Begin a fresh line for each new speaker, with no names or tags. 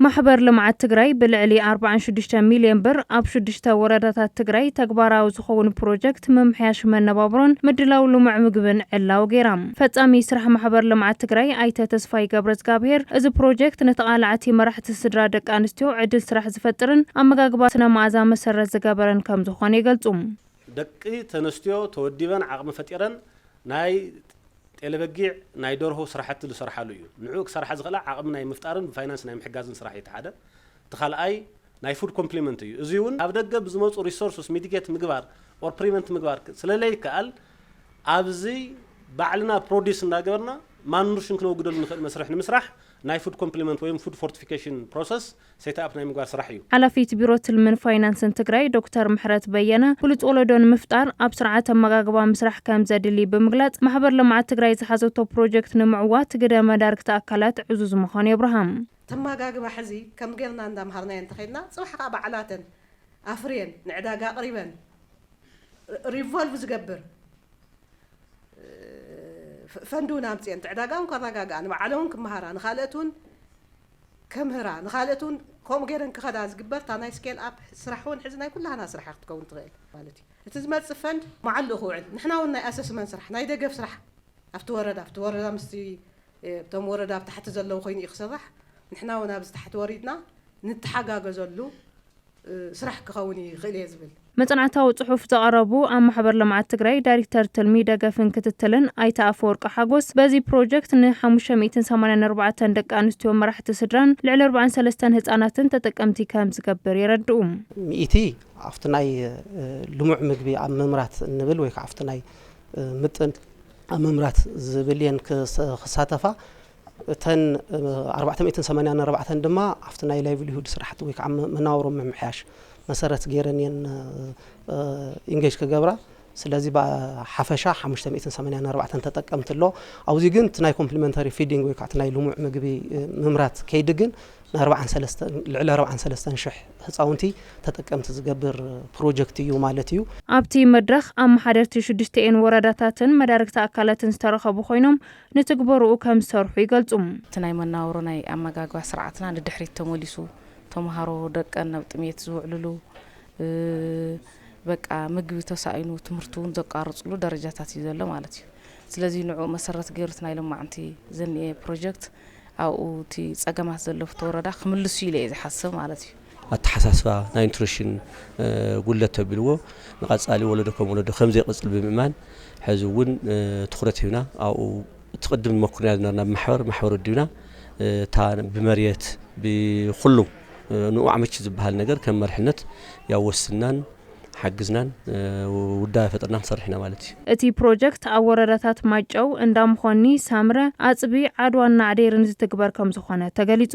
ማሕበር ልምዓት ትግራይ ብልዕሊ ኣርብዓን ሽዱሽተን ሚልዮን ብር ኣብ ሽዱሽተ ወረዳታት ትግራይ ተግባራዊ ዝኸውን ፕሮጀክት ምምሕያሽ መነባብሮን ምድላው ልሙዕ ምግብን ዕላዊ ገይራ። ፈፃሚ ስራሕ ማሕበር ልምዓት ትግራይ ኣይተ ተስፋይ ገብረዝጋብሄር እዚ ፕሮጀክት ንተቓላዕቲ መራሕቲ ስድራ ደቂ ኣንስትዮ ዕድል ስራሕ ዝፈጥርን ኣመጋግባ ስነ መኣዛ መሰረት ዝገበረን ከምዝኾነ ይገልፁ። ደቂ
ተንስትዮ ተወዲበን ዓቕሚ ፈጢረን ናይ ጤለበጊዕ ናይ ደርሆ ስራሕቲ ዝሰርሓሉ እዩ። ንዕኡ ክሰርሓ ዝኽእላ ዓቕሚ ናይ ምፍጣርን ብፋይናንስ ናይ ምሕጋዝን ስራሕ እዩ እቲ ሓደ። እቲ ካልኣይ ናይ ፉድ ኮምፕሊመንት እዩ። እዙይ እውን ካብ ደገ ብዝመፁ ሪሶርስስ ሚቲጌት ምግባር ኦር ፕሪቨንት ምግባር ስለለይከኣል ኣብዚ ባዕልና ፕሮዲስ እንዳገበርና ማልኑርሽን ክነወግደሉ ንኽእል መስርሕ ንምስራሕ ናይ ፉድ ኮምፕሊመንት ወይም ፉድ ፎርቲፊኬሽን ፕሮሰስ ሴትኣፕ ናይ ምግባር ስራሕ እዩ። ሓላፊት ቢሮ ትልምን
ፋይናንስን ትግራይ ዶክተር ምሕረት በየነ፣ ብሉፅ ወለዶ ንምፍጣር ኣብ ስርዓት ኣመጋግባ ምስራሕ ከምዘድሊ ብምግላፅ፣ ማሕበር ልምዓት ትግራይ ዝሓዘቶ ፕሮጀክት ንምዕዋት ግደ መዳርግቲ ኣካላት ዕዙዝ ምዃኑ የብርሃ። እቲ ኣመጋግባ ሕዚ
ከም ገይርና እንዳምሃርናዮ እንተኸይድና ፅባሕ ከዓ ባዕላተን ኣፍርየን ንዕዳጋ ኣቕሪበን ሪቮልቭ ዝገብር ፈንድ እውን ኣምፂኤን እቲ ዕዳጋ እውን ከረጋግኣ ንባዕለን እውን ክመሃራ ንካልኦት እውን ከምህራ ንካልእት ውን ከምኡ ገይረን ክኸዳ ዝግበር እታ ናይ ስኬል ኣፕ ስራሕ ውን ሕዚ ናይ ኩላህና ስራሕ እያ ክትከውን ትኽእል ማለት እዩ እቲ ዝመፅእ ፈንድ መዓልኡ ክውዕል ንሕና ውን ናይ ኣሰስመን ስራሕ ናይ ደገፍ ስራሕ ኣብቲ ወረዳ ኣብቲ ወረዳ ምስቲ እቶም ወረዳ ኣብ ታሕቲ ዘለው ኮይኑ እዩ ክስራሕ ንሕና ውን ኣብዚ ታሕቲ ወሪድና ንተሓጋገዘሉ ስራሕ ክኸውን ይኽእል እየ ዝብል። መፅናዕታዊ ፅሑፍ
ዘቐረቡ ኣብ ማሕበር ልምዓት ትግራይ ዳይሪክተር ትልሚ፣ ደገፍን ክትትልን ኣይተ ኣፈወርቂ ሓጎስ በዚ ፕሮጀክት ን ሓሙሽተ ሚእትን ሰማንያን ኣርባዕተን ደቂ ኣንስትዮ መራሕቲ ስድራን ልዕሊ ኣርብዓን ሰለስተን ህፃናትን ተጠቀምቲ ከምዝገብር የረድኡ። ሚእቲ
ኣብቲ ናይ ልሙዕ ምግቢ ኣብ ምምራት እንብል ወይ ከዓ ኣብቲ ናይ ምጥን ኣብ ምምራት ዝብል እየን ክሳተፋ። እተን ኣርባዕተ ሚእትን ሰማንያን ኣርባዕተን ድማ ኣብቲ ናይ ላይቭሊሁድ ስራሕቲ ወይ ከዓ መናወሮ ምምሕያሽ መሰረት ገይረን እየን ኢንጌጅ ክገብራ ስለዚ ብሓፈሻ ሓሙሽተ ሚእትን ሰማንያን ኣርባዕተን ተጠቀምቲ ኣሎ ኣብዚ ግን እቲ ናይ ኮምፕሊመንታሪ ፊዲንግ ወይ ከዓ እቲ ናይ ልሙዕ ምግቢ ምምራት ከይዲ ግን ንኣርባዓን ሰለስተን ልዕሊ ኣርባዓን ሰለስተን ሽሕ ህፃውንቲ ተጠቀምቲ ዝገብር ፕሮጀክት እዩ ማለት እዩ ኣብቲ መድረኽ
ኣመሓደርቲ ሽዱሽቲኤን ወረዳታትን መዳርግቲ ኣካላትን ዝተረኸቡ ኮይኖም ንትግበርኡ ከምዝሰርሑ ይገልጹ። እቲ ናይ መናውሮ
ናይ ኣመጋግባ ስርዓትና ንድሕሪት ተመሊሱ ተምሃሮ ደቀን ኣብ ጥምየት ዝውዕልሉ በቃ ምግቢ ተሳኢኑ ትምህርቲ እውን ዘቋርፅሉ ደረጃታት እዩ ዘሎ ማለት እዩ። ስለዚ ንዕኡ መሰረት ገይሩ እቲ ናይ ሎማዕንቲ ዘኒኤ ፕሮጀክት ኣብኡ እቲ ፀገማት ዘለፍቶ ወረዳ ክምልስ እዩ ኢለ እየ ዝሓስብ ማለት እዩ። ኣተሓሳስባ ናይ
ንትሪሽን ጉድለት ተቢልዎ ንቐፃሊ ወለዶ ከም ወለዶ ከም ዘይቕፅል ብምእማን ሕዚ እውን ትኹረት ሂብና ኣብኡ እቲ ቅድም ንመኩርና ዝነበርና ብማሕበር ማሕበር ወዲብና እታ ብመሬት ብኩሉ ንኡ ኣዕመች ዝበሃል ነገር ከም መርሕነት ያው ወስናን ሓግዝናን ውዳበ ፈጥርና ክንሰርሕ ኢና ማለት እዩ። እቲ ፕሮጀክት
ኣብ ወረዳታት ማይጨው፣ እንዳ መኾኒ፣ ሳምረ፣ ኣፅቢ፣ ዓድዋን ናዕዴርን ዝትግበር ከምዝኾነ ተገሊፁ።